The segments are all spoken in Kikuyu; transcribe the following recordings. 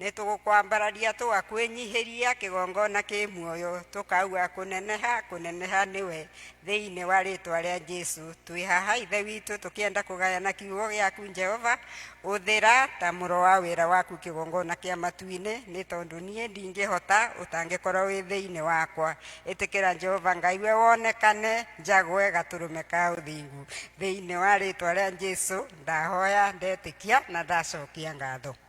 Nĩtũgũkwambararia tũgakwĩnyihĩria kĩgongona kĩ muoyo, tũkauga kũneneha, kũneneha nĩwe thĩinĩ wa rĩtwa rĩa Jesu. Twĩ haha Ithe witũ tũkĩenda kũgayana kiugo gĩaku Jehova, ũthĩra ta mũro wa wĩra waku kĩgongona kĩa matu-inĩ, nĩ tondũ niĩ ndingĩhota ũtangĩkorwo wĩ thĩinĩ wakwa. Ĩtĩkĩra Jehova Ngai we wonekane, njagwe gatũrũme ka ũthingu. Thĩinĩ wa rĩtwa rĩa Jesu ndahoya, ndetĩkia na ndacokia ngatho.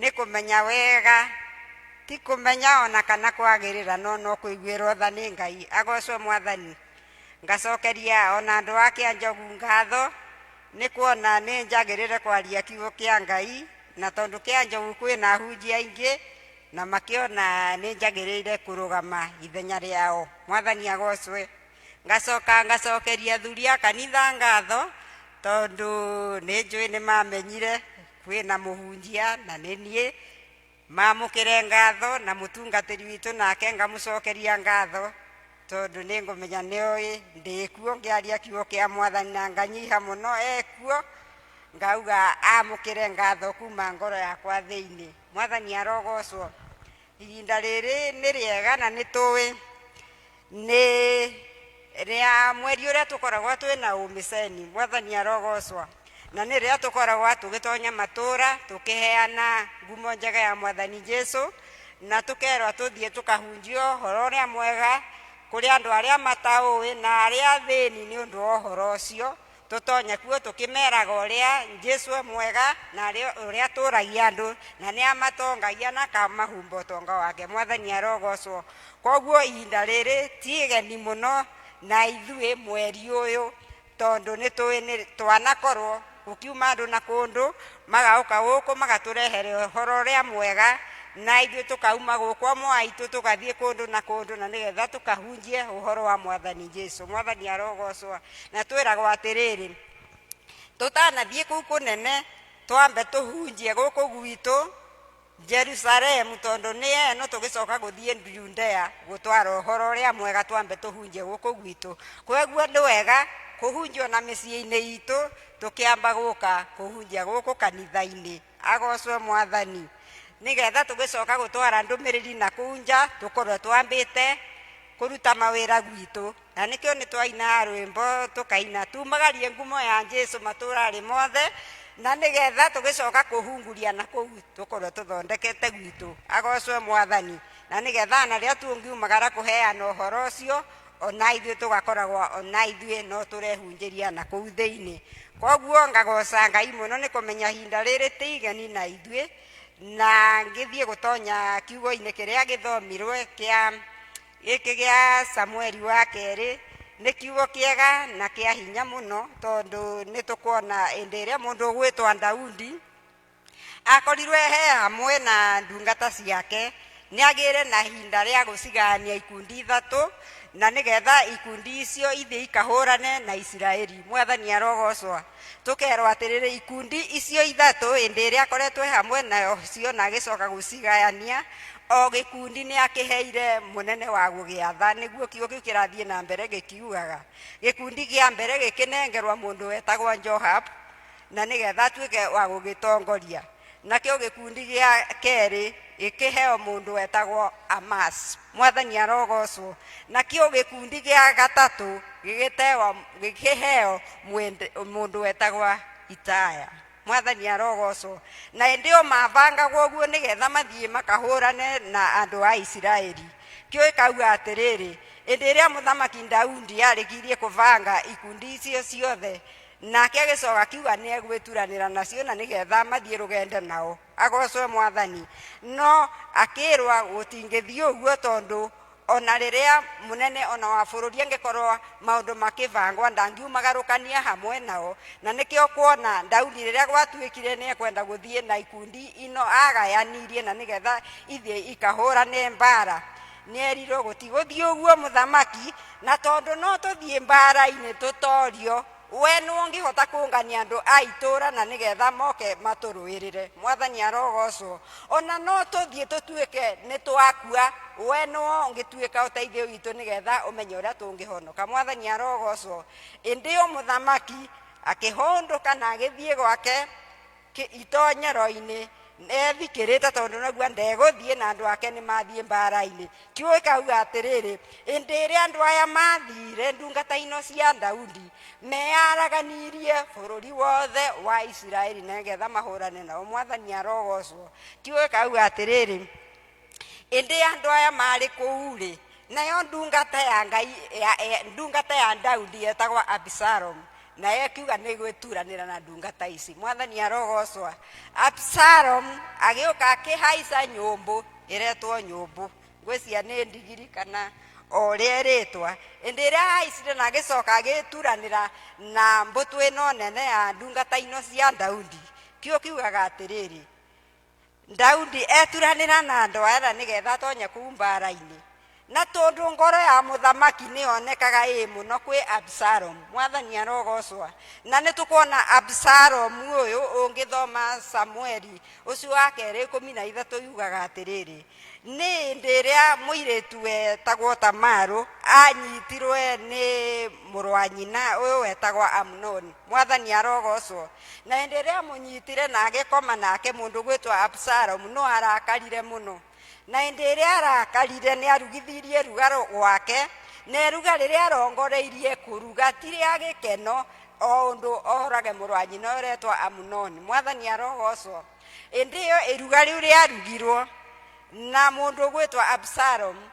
Nĩ kũmenya wega, ti kũmenya o na kana kwagĩrĩra, no no kũiguĩrwo tha nĩ Ngai. Agocwo Mwathani. Ngacokeria o na andũ a Kĩanjogu ngatho nĩ kuona nĩ njagĩrĩre kwaria kiugo kĩa Ngai, na tondũ Kĩanjogu kwĩna ahunjia aingĩ, na makĩona nĩ njagĩrĩire kũrũgama ithenya rĩao. Mwathani agocwe. ngacoka ngacokeria thuri a kanitha ngatho tondũ nĩ njũĩ nĩ mamenyire kwĩna mũhunjia na nĩ niĩ mamũkĩre ngatho na mũtungatĩri witũ nake ngamũcokeria ngatho tondũ nĩ ngũmenya nĩ oĩ ndĩkuo ngĩaria kiugo kĩa mwathani na nganyiha mũno ekuo ngauga amũkĩre ngatho kuma ngoro yakwa thĩinĩ mwathani arogocwo ihinda rĩrĩ nĩ rĩega na nĩ tũĩ Nĩ rĩa mweri ũrĩa tũkoragwo twĩ na ũmĩceni, Mwathani arogocwa. Na nĩ rĩa tũkoragwo tũgĩtonya matũũra tũkĩheana ngumo njega ya Mwathani Jesu, na tũkerwa tũthiĩ tũkahunjie ũhoro ũrĩa mwega kũrĩ andũ arĩa mataũĩ na arĩa athĩni nĩ ũndũ wa ũhoro ũcio. Tũtonya kuo tũkĩmeraga ũrĩa Jesu e mwega na arĩ ũrĩa atũragia andũ na nĩ amatongagia na akamahumba ũtonga wake. Mwathani arogocwo. Koguo ihinda rĩrĩ ti igeni mũno na ithuĩ mweri ũyũ tondũ nĩ tũĩ nĩ twanakorwo gũkiuma andũ na kũndũ magaũka gũkũ magatũrehere ũhoro ũrĩa mwega na ithuĩ tũkauma gũkũ amwe aitũ tũgathiĩ kũndũ na kũndũ na nĩgetha tũkahunjie ũhoro wa mwathani jesu mwathani arogocwa na twĩragwo atĩrĩrĩ tũtanathiĩ kũu kũnene twambe tũhunjie gũkũ gwitũ Jerusalemu, tondũ nĩ eno tũgĩcoka gũthiĩ Judea gũtwara ũhoro ũrĩa mwega twambe tũhunjie gũkũ gwitũ. Kwoguo nĩ wega kũhunjio na mĩciĩ-inĩ itũ tũkĩamba gũka kũhunjia gũkũ kanitha-inĩ. Agocwo mwathani. Nĩ getha tũgĩcoka gũtwara ndũmĩrĩri na kũu nja tũkorwo twambĩte kũruta mawĩra gwitũ. Na nĩkĩo nĩ twainaga rwĩmbo tũkaina, tumagarie ngumo ya Jesu matũũrarĩ mothe, na nĩgetha tũgĩcoka kũhunguria na kũu tũkorwo tũthondekete gwitũ. Agocwe mwathani. Na nĩgetha na rĩrĩa tũngiumagara kũheana ũhoro ũcio, ona ithuĩ tũgakoragwo ona ithuĩ no tũrehunjĩria na kũu thĩinĩ. Koguo ngagoca Ngai mũno nĩ kũmenya ihinda rĩrĩ ti igeni na ithuĩ, na ngĩthiĩ gũtonya kiugo-inĩ kĩrĩa gĩthomirwe kĩa gĩkĩ gĩa samueli wa kerĩ nĩ kiugo kĩega na kĩa hinya mũno tondũ nĩ tũkuona ĩndĩ ĩrĩa mũndũ ũgwĩtwa daudi akorirwe he hamwe na ndungata ciake nĩ agĩre na hinda rĩa gũcigania ikundi ithatũ na nĩgetha ikundi icio ithiĩ ikahũrane na isiraeli mwathani arogocwa Tũkerwo atĩrĩrĩ, ikundi icio ithatũ hĩndĩ ĩrĩa akoretwo hamwe nacio na agĩcoka gũcigayania, o gĩkundi nĩ akĩheire mũnene wa gũgĩatha nĩguo kiugo kĩu kĩrathiĩ na mbere gĩkiugaga gĩkundi gĩa mbere gĩkĩnengerwa mũndũ wetagwo Joab na nĩgetha atuĩke wa gũgĩtongoria nakĩo gĩkundi gĩa kerĩ gĩkĩheo mũndũ wetagwo Amasi, mwathani arogocwo. Nakĩo gĩkundi gĩa gatatũ gĩgĩtewa gĩkĩheo mwende- mũndũ wetagwo Itaya, mwathani arogocwo. Na ĩndĩ o mabangagwo ũguo nĩgetha mathiĩ makahũrane na andũ a Isiraeli. Kĩo ĩkauga atĩrĩrĩ, ĩndĩ ĩrĩa mũthamaki Daudi arĩkirie kũbanga ikundi icio ciothe nake agĩcoka akiuga nĩ egwĩturanĩra nacio na nĩgetha mathiĩ rũgendo nao agocwe mwathani no akĩrwa gũtingĩthiĩ ũguo tondũ ona rĩrĩa mũnene ona wa bũrũri angĩkorwo maũndũ makĩbangwa ndangiumagarũkania hamwe nao na nĩkĩo kuona daudi rĩrĩa gwatuĩkire nĩ ekwenda gũthiĩ na ikundi ino agayanirie na nĩgetha ithiĩ ikahũrane mbara Nĩerirwo gũtigũthiĩ ũguo mũthamaki, na tondũ no tũthiĩ mbaara-inĩ tũtoorio, wee nũũ ũngĩhota kũũngania andũ a itũũra na nĩgeetha moke matũrũĩrĩre? Mwathani arogoocwo! O na no tũthiĩ tũtuĩke nĩtwakua, wee nũũ ũngĩtuĩka ũteithio witũ nĩgeetha ũmenye ũrĩa tũngĩhonoka? Mwathani arogoocwo! Ĩndĩ o mũthamaki akĩhũndũka na agĩthiĩ gwake. Kĩ- itonyero-inĩ nethikĩrĩte tondũ naugua ndegũthiĩ na andũ ake nĩ mathiĩ mbara-inĩ kiugo ikauga atĩrĩrĩ ĩndĩ rĩa andũ aya mathire ndungata ino cia daudi meyaraganirie bũrũri wothe wa isiraeli nĩgetha mahũrane nao mwathani arogocwo kiugo ikauga atĩrĩrĩ ĩndĩ andũ aya maarĩ kũu-rĩ nayo ndungata ya ngai ya, ya, ndungata ya daudi yetagwa abisalomu nayo ĩkiuga nĩ gwĩturanĩra na ndungata ici mwathani arogocwa abisalomu agĩũka akĩhaica nyũmbũ ĩretwo nyũmbũ ngwĩcia nĩ ndigiri kana o ũrĩa ĩrĩtwa ĩndĩ ĩrĩa ahaicire na agĩcoka agĩturanĩra na mbũtũ ĩno nene ya ndungata ino cia daudi kĩo kiugaga atĩrĩrĩ daudi eturanĩra na andũ a etha nĩgetha atonye kuu mbara-inĩ na tondũ ngoro ya mũthamaki nĩyonekaga ĩĩ mũno kwĩ absalom mwathani arogocwa na nĩ tũkuona absalom ũyũ ũngĩthoma samueli ũcio wa kerĩ ikũmi na ithatũ yugaga atĩrĩrĩ Nĩ hĩndĩ ĩrĩa mũirĩtu wetagwo Tamarũ aanyitirwe nĩ mũrũ wa nyina ũyũ wetagwo Amunoni. Mwathani arogocwo. Na hĩndĩ ĩrĩa amũnyitire na agĩkoma nake mũndũ gwĩtwa Absalomu, no arakarire mũno. Na hĩndĩ ĩrĩa arakarire nĩ arugithirie ruga gwake, na eruga rĩrĩa arongoreirie kũruga ti rĩa gĩkeno, o ũndũ orage mũrũ wa nyina ũretwa Amunoni. Mwathani arogocwo. ĩndĩ ĩyo ĩruga rĩu rĩarugirwo na mũndũ ũgwĩtwa absalomu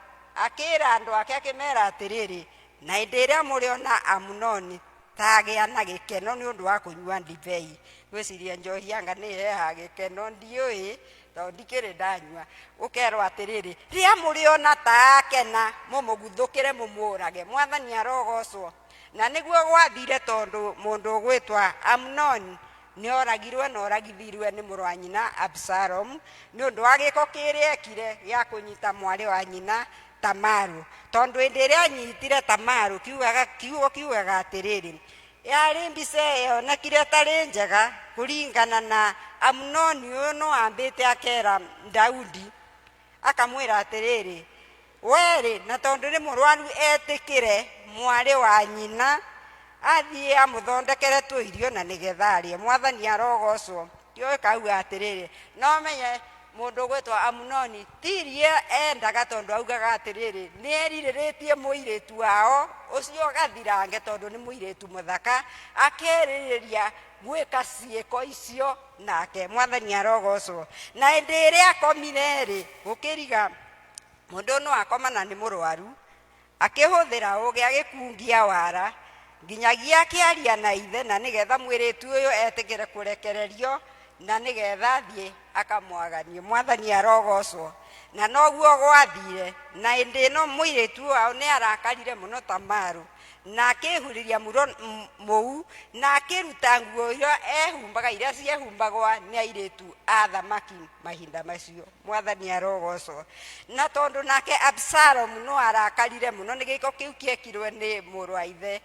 akĩĩra andũ ake akĩmera atĩrĩrĩ na ĩndĩ ĩrĩa mũrĩona amunoni tagĩa na gĩkeno nĩ ũndũ wa kũnyua ndibei gwĩciria njohi yanga nĩ heha gĩkeno ndiũĩ tondũ ndikĩrĩ ndanyua ũkerwo atĩrĩrĩ rĩa mũrĩona taakena mũmũguthũkĩre mũmũũrage mwathani arogocwo na nĩguo gwathire tondũ mũndũ ũgwĩtwa amunoni Nĩ ooragirũo na ooragithiruo nĩ mũrũ wa nyina Absalomu nĩ ũndũ wa gĩĩko kĩrĩa eekire gĩa kũnyita mwarĩ wa nyina Tamaru. Tondũ hĩndĩ ĩrĩa aanyitire Tamaru, kiugaga, kiugo kiugaga atĩrĩrĩ, Yarĩ mbica yonekire ĩtarĩ njega kũringana na Amunoni ũyũ nĩ wambĩte akeera Daudi, akamwĩra atĩrĩrĩ, Wee-rĩ, na tondũ nĩ mũrwaru etĩkĩre mwarĩ wa nyina athiĩ amũthondekere tũirio na nĩgetha arĩe. Mwathani arogocwo. Ndiũĩ kauga atĩrĩrĩ, no menye mũndũ ũgwĩtwo Amunoni ti irio endaga tondũ augaga atĩrĩrĩ, nĩ erirĩrĩtie mũirĩtu wao ũcio gathirange tondũ nĩ mũirĩtu mũthaka, akerirĩria gwĩka ciĩko icio nake. Mwathani arogocwo. Na hĩndĩ ĩrĩa akomire-rĩ, gũkĩriga mũndũ no akoma na nĩ mũrwaru akĩhũthĩra ũgĩ agĩkungia wara nginyagia akĩaria na ithe na nĩgetha mwĩrĩtu ũyũ etĩkĩre kũrekererio na nĩgetha thiĩ akamwaganie mwathani arogocwo na noguo gwathire na ĩndĩ ĩno mũirĩtu wao nĩ arakarire mũno ta marũ na akĩhurĩria muro mũu na akĩruta nguo iria ehumbaga iria ciehumbaga nĩ airĩtu a thamaki mahinda macio mwathani arogocwo na tondũ nake absalomu no arakarire mũno nĩ gĩko kĩu kĩekirwe nĩ mũrũ wa ithe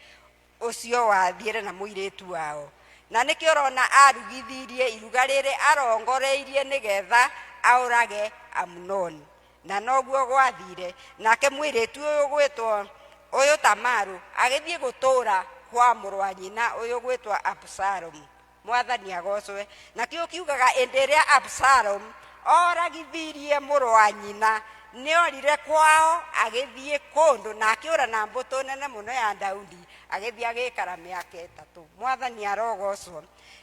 ũcio wathiĩre na mũirĩtu wao na nĩkĩ ũrona arugithirie iruga rĩrĩ arongoreirie nĩ getha aũrage amunoni na noguo gwathire nake mũirĩtu ũyũ gwĩtwo ũyũ tamaru agĩthiĩ gũtũũra kwa mũrũ wa nyina ũyũ gwĩtwo absalomu mwathani agocwe nakĩo kiugaga ĩndĩ ĩrĩa absalom oragithirie mũrũ wa nyina nĩorire kwao agĩthiĩ kũndũ na akĩũra na mbũtũ nene mũno ya daudi agĩthiĩ agĩikara mĩaka ĩtatũ mwathani arogocwo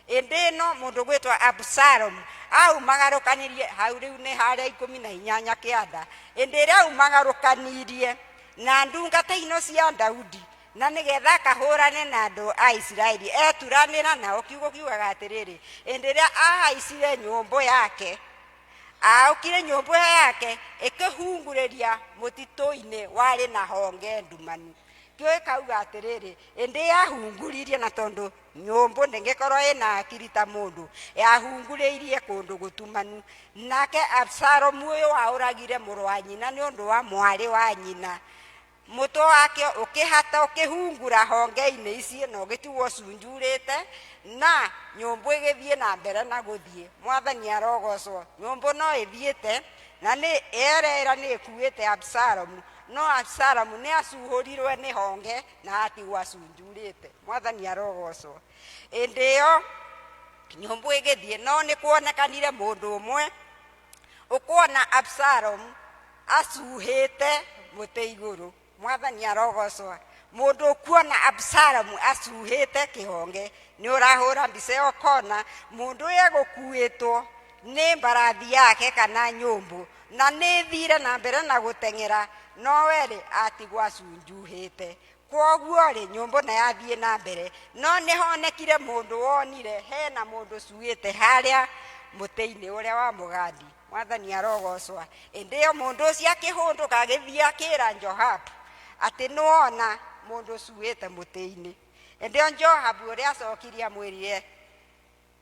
ĩndĩ ĩno mũndũ gwĩtwa absalom aumagarũkanirie hau rĩu nĩ harĩa ikũmi na inyanya kĩanda ĩndĩ ĩrĩa aumagarũkanirie na ndungata ino cia daudi na nĩ getha akahũrane na andũ a isiraeli eturanĩra nao kiugo kiugaga atĩrĩrĩ ĩndĩ rĩrĩa ahaicire nyũmbũ yake aokire nyũmbũ yake ĩkĩhungurĩria mũtitũ-inĩ warĩ na honge ndumanu kĩo ĩkauga atĩrĩrĩ ĩndĩ yahunguririe na tondũ nyũmbũ ndĩngĩkorwo ĩna akiri ta mũndũ yahungurĩirie kũndũ gũtumanu nake absalomu ũyũ waũragire mũrũ wa nyina nĩ ũndũ wa mwarĩ wa nyina mũtwe wakĩo ũkĩhata ũkĩhungura honge-inĩ ici na ũgĩtigwo ũcunjurĩte na nyũmbũ ĩgĩthiĩ na mbere na gũthiĩ mwathani arogocwo nyũmbũ no ĩthiĩte na nĩ erera nĩ ĩkuĩte absalomu no absalomu nĩ acuhũrirwe nĩ honge na atigwo acunjurĩte mwathani arogocwo ĩndĩ ĩyo nyũmbũ ĩgĩthiĩ no nĩ kuonekanire mũndũ ũmwe ũkuona absalomu acuhĩte mũtĩ igũrũ mwathani arogocwa mũndũ ũkuona absalomu acuhĩte kĩhonge nĩ ũrahũra mbica ĩyo ũkona mũndũ ũyũ egũkuĩtwo nĩ mbarathi yake kana nyũmbũ na nĩ thire na mbere na gũteng'era no werĩ atigwo acunjuhĩte kwoguo-rĩ nyũmbũ na yathiĩ na mbere no nĩ honekire mũndũ wonire hena mũndũ cuĩte harĩa mũtĩ-inĩ ũrĩa wa mũgandi mwathani arogocwa ĩndĩ yo mũndũ ũcio akĩhũndũka agĩthiĩ akĩra johabu atĩ nĩwona mũndũ cuĩte mũtĩ-inĩ ĩndĩ yo johabu ũrĩa acokirie amwĩrire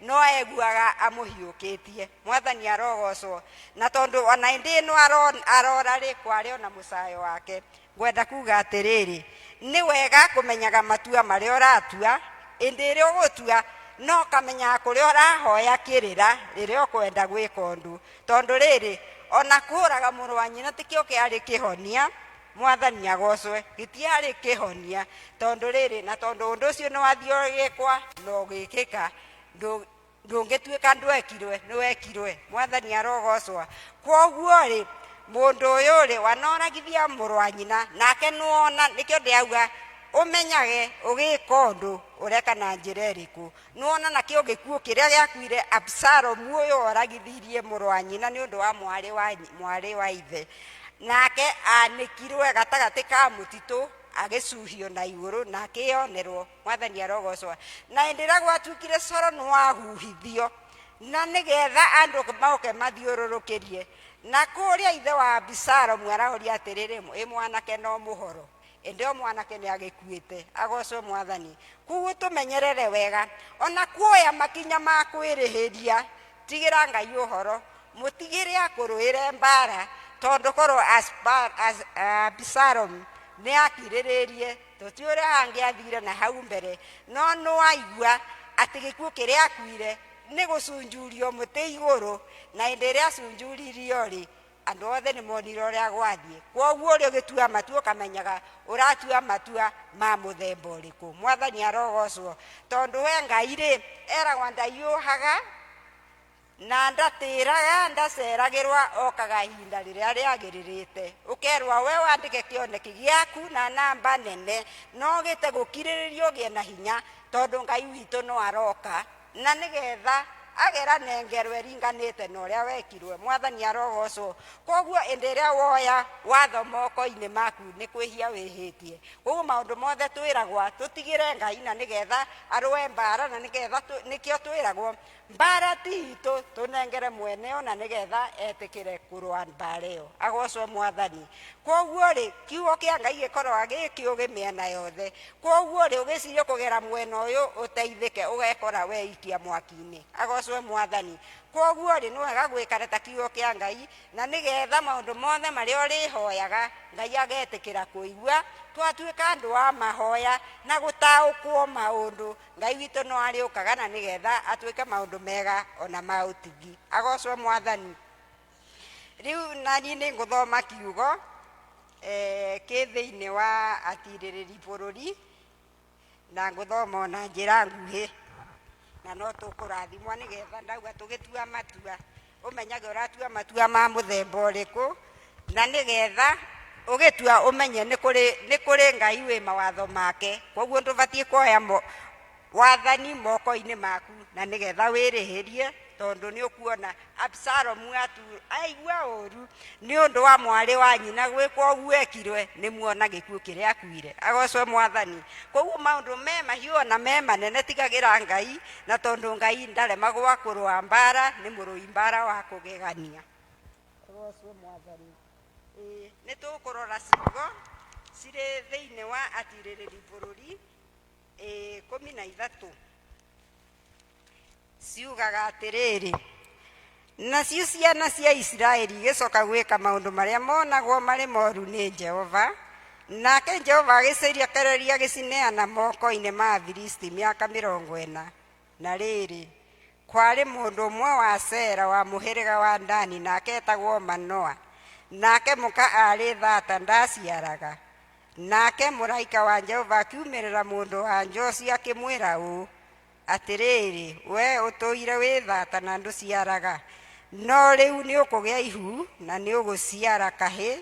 No aiguaga amũhiũkĩtie. Mwathani arogoocwo. Na tondũ o na ĩndĩ ĩno aroora-rĩ, kwarĩ o na mũcaayo wake. Ngwenda kuuga atĩrĩrĩ, nĩ wega kũmenyaga matua marĩa ũratua, ĩndĩ ĩrĩa ũgũtua, na ũkamenyaga kũrĩa ũrahoya kĩrĩra rĩrĩa ũkwenda gwĩka ũndũ. Tondũ rĩrĩ, o na kũũraga mũrũ wa nyina tikĩo kĩarĩ kĩhonia. mwathani agocwe gĩtiarĩ kĩhonia tondũ rĩrĩ na tondũ ũndũ ũcio nĩwathiogĩkwa na ũgĩkĩka ndũ- ndũngĩtuĩka ndwekirwe nĩwekirwe mwathani arogocwa kwoguo-rĩ mũndũ ũyũ-rĩ wanoragithia mũrũ wa nyina nake nĩwona nĩkĩo ndĩauga ũmenyage ũgĩka ũndũ ũreka na njĩra ĩrĩkũ Nĩwona nakĩo gĩkuũ kĩrĩa gĩakuire Abisalomu ũyũ woragithirie mũrũ wa nyina nĩ ũndũ wa mwarĩ wa, mwarĩ wa ithe nake anĩkirwe gatagatĩ ka mũtitũ agĩcuhio na igũrũ na akĩyonerwo mwathani arogocwa na hĩndĩ ĩrĩa gwatuĩkire coro nĩ wahuhithio na nĩgetha andũ maoke mathiũrũrũkĩrie na kũrĩa ithe wa Abisalomu araũria atĩrĩrĩ ĩ mwanake no mũhoro ĩndĩ o mwanake nĩ agĩkuĩte agocwo mwathani kuguo tũmenyerere wega ona kuoya makinya ma kwĩrĩhĩria tigĩra ngai ũhoro mũtigĩre akũrũĩre mbara tondũ korwo abisalomu nĩ akirĩrĩrie tũtiũrĩ hangĩ athire na hau mbere no nĩwaigua atĩ gĩkuũ kĩrĩa akuire nĩ gũcunjurio mũtĩ igũrũ na hĩndĩ ĩrĩa acunjuririo rĩ Andũ othe nĩ monire ũrĩa gwathiĩ. Kwoguo ũrĩ ũgĩtua matua ũkamenyaga ũratua matua ma mũthemba ũrĩkũ. Mwathani arogocwo. Tondũ we Ngai rĩ, eragwa ndaiyũhaga na ndatĩraga ndaceragĩrwa okaga ihinda rĩrĩa rĩagĩrĩrĩte ũkerwa we wandĩke kĩoneki gĩaku na namba nene no gĩte gũkirĩrĩria ũgĩe na hinya tondũ ngai witũ no aroka na nĩ getha agera nengerwe ringanĩte na ũrĩa wekirwe mwathani arogocwo koguo ĩndĩ ĩrĩa woya watho moko-inĩ maku nĩ kwĩhia wĩhĩtie koguo maũndũ mothe twĩragwa tũtigĩre ngai na nĩ getha arũe mbara na nĩ getha nĩkĩo twĩragwo mbara ti itũ tũnengere mwene ona nĩ getha etĩkĩre kũrũa mbara ĩyo agocwo mwathani koguo rĩ kiugo kĩa ngai gĩkoragwa gĩkĩũgĩ mĩena yothe Kwoguo-rĩ, ũgĩciria ũkũgera mwena ũyũ ũteithĩke, ũgekora weikia mwaki-inĩ. Agoocwo Mwathani! Kwoguo-rĩ, nĩ wega gũikara ta Kiugo kĩa Ngai, na nĩ getha maũndũ mothe marĩa ũrĩhoyaga, Ngai agetĩkĩra kũigua. Twatuĩka andũ a mahoya na gũtaũkwo maũndũ, Ngai witũ no arĩũkaga na nĩ getha atwĩke maũndũ mega o na ma ũtugi. Agoocwo Mwathani! Rĩu na niĩ nĩ ngũthoma kiugo. eh, kĩ thĩinĩ wa atirĩrĩri bũrũri na ngũthoma ona njĩra nguhĩ na no tũkũrathimwo nĩgetha ndauga tũgĩtua matua ũmenyage ũratua matua ma mũthemba ũrĩkũ na nĩgetha ũgĩtua ũmenye nĩ kũrĩ ngai wĩ mawatho make koguo ndũbatiĩ kuoya wathani moko-inĩ maku na nĩ getha wĩrĩhĩrie tondũ nĩ ũkuona absalomu atu- aigua ũru nĩ ũndũ wa mwarĩ wa nyina gwĩkwo ũguo ekirwe nĩ muona gĩkuũ kĩrĩa akuire agocwe mwathani koguo maũndũ me mahiũ ona me manene tigagĩra ngai na tondũ ngai ndaremagwa kũrũa mbara nĩ mũrũi mbara wa kũgegania agocwe mwathani Ĩĩ, nĩ tũkũrora ciugo cirĩ thĩinĩ wa atirĩrĩri bũrũri ikũmi na ithatũ ciugaga atĩrĩrĩ nacio ciana cia isiraeli igĩcoka gwĩka maũndũ marĩa monagwo marĩ moru nĩ jehova nake jehova agĩcirekereria gĩcineana moko-inĩ ma afilisti mĩaka mĩrongo ĩna na rĩrĩ kwarĩ mũndũ ũmwe wa sera wa mũhĩrĩga wa ndani nake etagwo manoa nake mũka arĩ thata ndaciaraga nake mũraika wa jehova akiumĩrĩra mũndũ wa njoci akĩmwĩra ũũ atĩrĩrĩ we ũtũire wĩ thata na ndũciaraga no rĩu nĩ ũkũgĩa ihu na nĩ ũgũciara kahĩ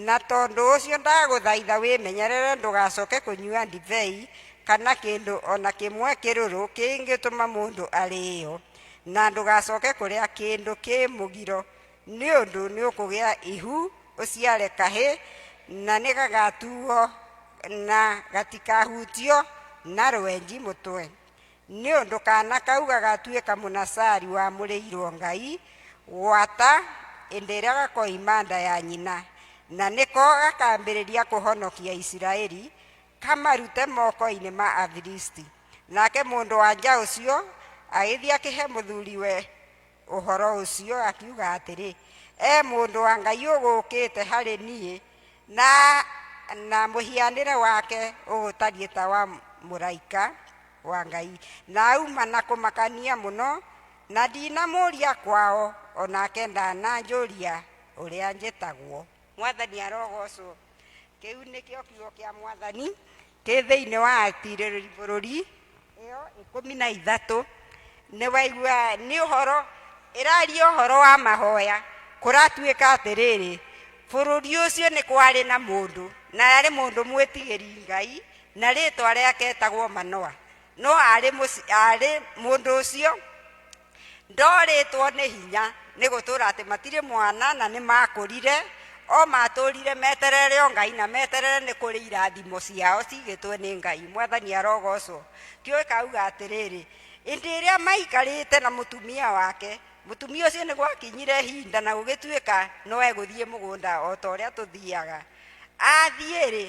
Na tondũ ũcio ndagũthaitha wĩmenyerere ndũgacoke kũnyua ndibei kana kĩndũ o na kĩmwe kĩrũrũ kĩngĩtũma mũndũ arĩĩo, na ndũgacoke kũrĩa kĩndũ kĩ mũgiro, nĩ ũndũ nĩũkũgĩa ihu ũciare kahĩ, na nĩgagatuuo na gatikahutio na rwenji mũtwe. Nĩ ũndũ kaana kau gagatuĩka Mũnasari wamũrĩirũo Ngai gwata hĩndĩ ĩrĩa gakoima nda ya nyina, na nĩko gakaambĩrĩria kũhonokia Isiraeli, kamarute moko-inĩ ma Afilisti. Nake mũndũ-wa-nja ũcio agĩthiĩ akĩhe mũthuriwe Ũhoro ũcio akiuga atĩrĩ, E mũndũ wa Ngai ũgũũkĩte harĩ niĩ, na, na mũhianĩre wake ũgũtariĩ ta wa mũraika wa Ngai. Na auma na kũmakania mũno, na ndinamũũria kwao, o nake ndananjũria ũrĩa njĩtagwo. Mwathani arogoocwo. kĩu nĩkĩo kiugo kĩa mwathani kĩ thĩinĩ wa atirĩrĩri bũrũri ĩyo ikũmi na ithatũ nĩ waigua nĩ ũhoro ĩraria ũhoro wa mahoya kũratuĩka atĩrĩrĩ bũrũri ũcio nĩ kwarĩ na mũndũ na arĩ mũndũ mwĩtigĩri ngai na rĩtwa rĩake etagwo manoa no arĩ mũndũ ũcio ndorĩtwo nĩ hinya nĩ gũtũra atĩ matirĩ mwana na nĩ makũrire o matũrire meterere o ngai na meterere nĩ kũrĩ irathimo ciao cigĩtwe nĩ ngai mwathani arogocwo kĩoĩ kauga atĩrĩrĩ ĩndĩ ĩrĩa maikarĩte na mũtumia wake mũtumia ũcio nĩ gwakinyire hinda na gũgĩtuĩka no egũthiĩ mũgũnda o ta ũrĩa tũthiaga athiĩ-rĩ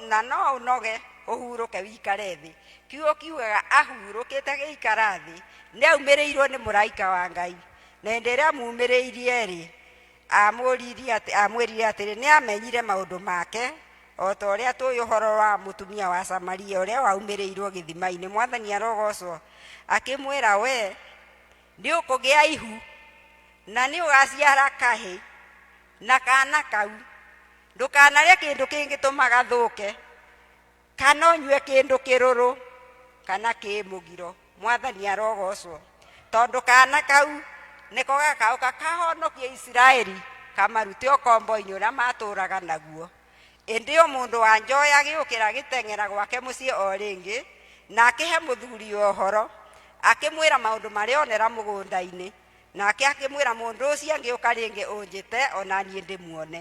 na no ũnoge ũhurũke wikare thĩ kiugo kiugaga ahurũkĩte gĩikara thĩ nĩ aumĩrĩirwo nĩ mũraika wa ngai na hĩndĩ ĩrĩa amumĩrĩirie rĩ amũririe atĩ- amwĩrire atĩrĩ nĩ amenyire maũndũ make o ta ũrĩa tũĩ ũhoro wa mũtumia wa samaria ũrĩa waumĩrĩirwo gĩthima-inĩ mwathani arogocwo akĩmwĩra we nĩ ũkũgĩa ihu na nĩ ũgaciara kahĩ na kana kau ndũkanarĩa kĩndũ kĩngĩtũma gathũke kana ũnyue kĩndũ kĩrũrũ kana kĩ mũgiro mwathani arogocwo tondũ kana kau nĩko gakaũka kahonokie isiraeli kamarute ũkombo-inĩ ũrĩa matũraga naguo ĩndĩ o mũndũ wa njoya agĩũkĩra agĩteng'era gwake mũciĩ o rĩngĩ na akĩhe mũthuri ũhoro akĩmwĩra maũndũ marĩa onera mũgũnda-inĩ nake akĩmwĩra mũndũ ũcio angĩũka rĩngĩ ũnjĩte o na niĩ ndĩmuone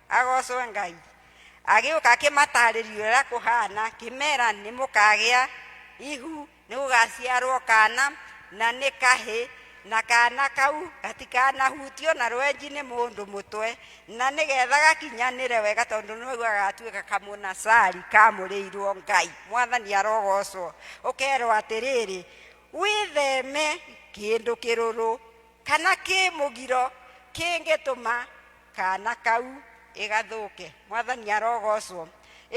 agoocwo ngai agĩũka akĩmataarĩria ũrĩa kũhaana kĩmera nĩ mũkagĩa ihu nĩ gũgaciarwo kana na nĩ kahĩ na kana kau gatikanahutio na rwenji nĩ mũndũ mũtwe na nĩ getha gakinyanĩre wega tondũ nĩguo gagatuĩka kamũnacari kamũrĩirwo ngai mwathani arogoocwo ũkerwo atĩrĩrĩ wĩtheme kĩndũ kĩrũrũ kana kĩ mũgiro kĩngĩtũma kaana kau ĩgathũke mwathani arogocwo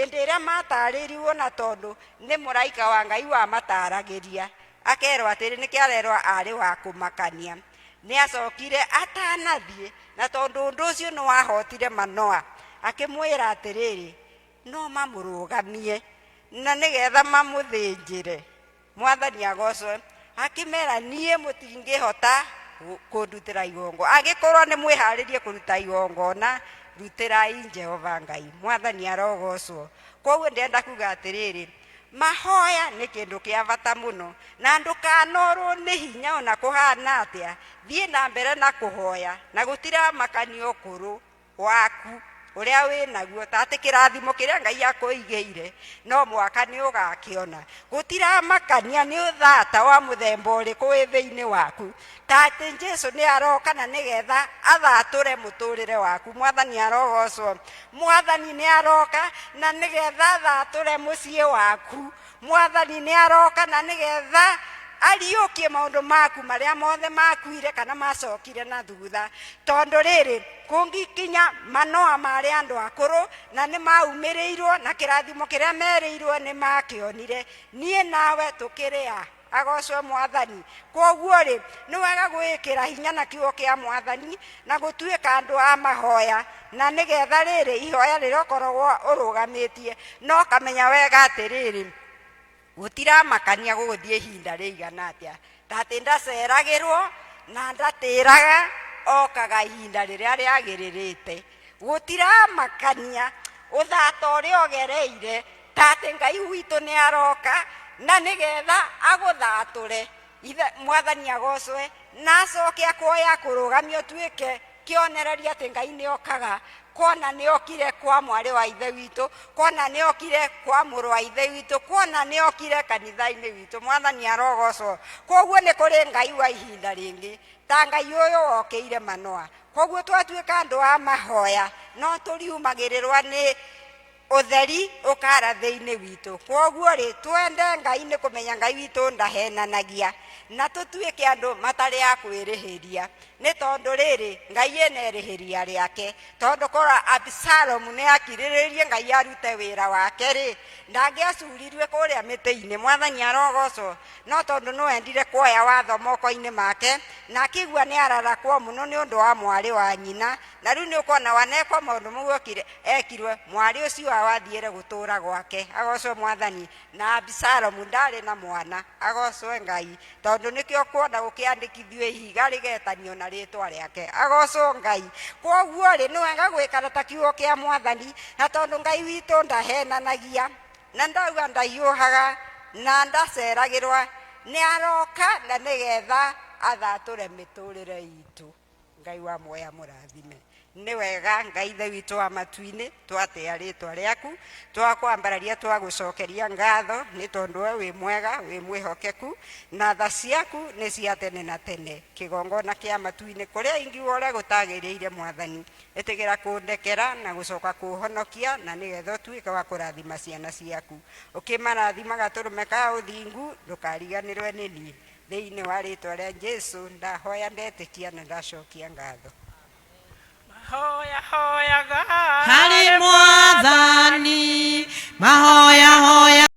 ĩndĩ ĩrĩa matarĩirirwo na tondũ nĩ mũraika wa ngai wamataragĩria akerwo atĩrĩ nĩkĩ arerwo arĩ wa kũmakania nĩ acokire atanathiĩ na tondũ ũndũ ũcio nĩ wahotire manoa akĩmwĩra atĩrĩrĩ no mamũrũgamie na nĩgetha mamũthĩnjĩre mwathani agocwe akĩmera niĩ mũtingĩhota gũ- kũndutĩra igongo agĩkorwo nĩ mwĩharĩrie kũruta igongona rutĩrai jehova ngai mwathani arogocwo koguo ndĩrenda kuga atĩrĩrĩ mahoya nĩ kĩndũ kĩa bata mũno na ndũkanorwo nĩ hinya ona kũhana atĩa thiĩ na mbere na kũhoya na gũtiramakanio kũrũ waku ũrĩa wĩ naguo ta atĩ kĩrathimo kĩrĩa ngai akũigĩire no mwaka nĩ ũgakĩona gũtiramakania nĩ ũthata wa mũthemba ũrĩkũ wĩ thĩinĩ waku ta atĩ jesu nĩ aroka na nĩgetha athatũre mũtũrĩre waku mwathani arogocwo mwathani nĩ aroka na nĩgetha athatũre mũciĩ waku mwathani nĩ aroka na nĩ getha ariũkie maũndũ maku marĩa mothe makuire kana macokire na thutha tondũ rĩrĩ kũngĩkinya manoa marĩ andũ akũrũ na nĩ maumĩrĩirwo na kĩrathimo kĩrĩa merĩirwo nĩ makĩonire niĩ nawe tũkĩrĩ a Agocwo Mwathani. Kwoguo-rĩ, nĩ wega gwĩkĩra hinya na kiugo kĩa Mwathani na gũtuĩka andũ a mahoya, na nĩ getha rĩrĩ, ihoya rĩrĩa ũkoragwo ũrũgamĩtie, na ũkamenya wega atĩrĩrĩ, gũtiramakania gũgũthiĩ ihinda rĩigana atĩa, ta atĩ ndaceragĩrwo na ndatĩraga, okaga ihinda rĩrĩa rĩagĩrĩrĩte. Gũtiramakania ũthata ũrĩa ũgereire, ta atĩ ngai witũ nĩ aroka na nĩ getha agũthatũre Ithe- mwathani agocwe na acoke akuoya akũrũgamia ũtuĩke kĩonereria atĩ ngai nĩ okaga kuona nĩ okire kwa mwarĩ wa ithe witũ kuona nĩ okire kwa mũrũ wa ithe witũ kuona nĩ okire kanitha-inĩ witũ mwathani arogocwo koguo nĩ kũrĩ ngai wa ihinda rĩngĩ ta ngai ũyũ wokĩire manoa koguo twatuĩka andũ a mahoya no tũriumagĩrĩrwa nĩ ũtheri ũkaara thĩinĩ witũ kwoguo rĩ twende ngai nĩ kũmenya ngai witũ ndahenanagia na tũtuĩke andũ matarĩ a kwĩrĩhĩria nĩ tondũ rĩrĩ ngai ĩna ĩrĩhĩria rĩake tondũ korwo absalomu nĩ akirĩrĩirie ngai arute wĩra wake rĩ ndangĩacurirue kũrĩa mĩtĩ-inĩ mwathani arogocwo no tondũ nĩ wendire kuoya watho moko-inĩ make na akĩigua nĩ ararakwo mũno nĩ ũndũ wa mwarĩ wa nyina na rĩu nĩ ũkona wanekwa maũndũ mau okire ekirwe mwarĩ ũcio awathiĩre gũtũũra gwake agocwe mwathani na abisalomu ndarĩ na mwana agocwe ngai tondũ nĩkĩo kuona gũkĩandĩkithio ihiga rĩgetanio na rĩtwa rĩake agocwo ngai kwoguo rĩ nĩ wega gwĩkana ta kiugo kĩa mwathani na tondũ ngai witũ ndahenanagia na ndauga ndahiũhaga na ndaceragĩrwa nĩ aroka na nĩgetha athatũre mĩtũrĩre itũ ngai wa muoya mũrathime nĩ wega ngai ithe witũ wa matu-inĩ twatĩa rĩtwa rĩaku twakwambararia twagũcokeria ngatho nĩ tondũ we wĩ mwega wĩ mwĩhokeku na tha ciaku nĩ cia tene na tene kĩgongona kĩa matu-inĩ kũrĩa ingiuga ũrĩa gũtagĩrĩire mwathani ĩtĩgĩra kũndekera na gũcoka kũhonokia na nĩgetha ũtuĩke wa kũrathima ciana ciaku ũkĩmarathimaga tũrũme ka ũthingu ndũkariganĩrwe nĩ niĩ Thĩinĩ wa rĩĩtwa rĩa Jesu ndahoya ndetĩkia na ndacokia ngatho. Mahoya hoyaga harĩ mwathani, mahoya hoyaga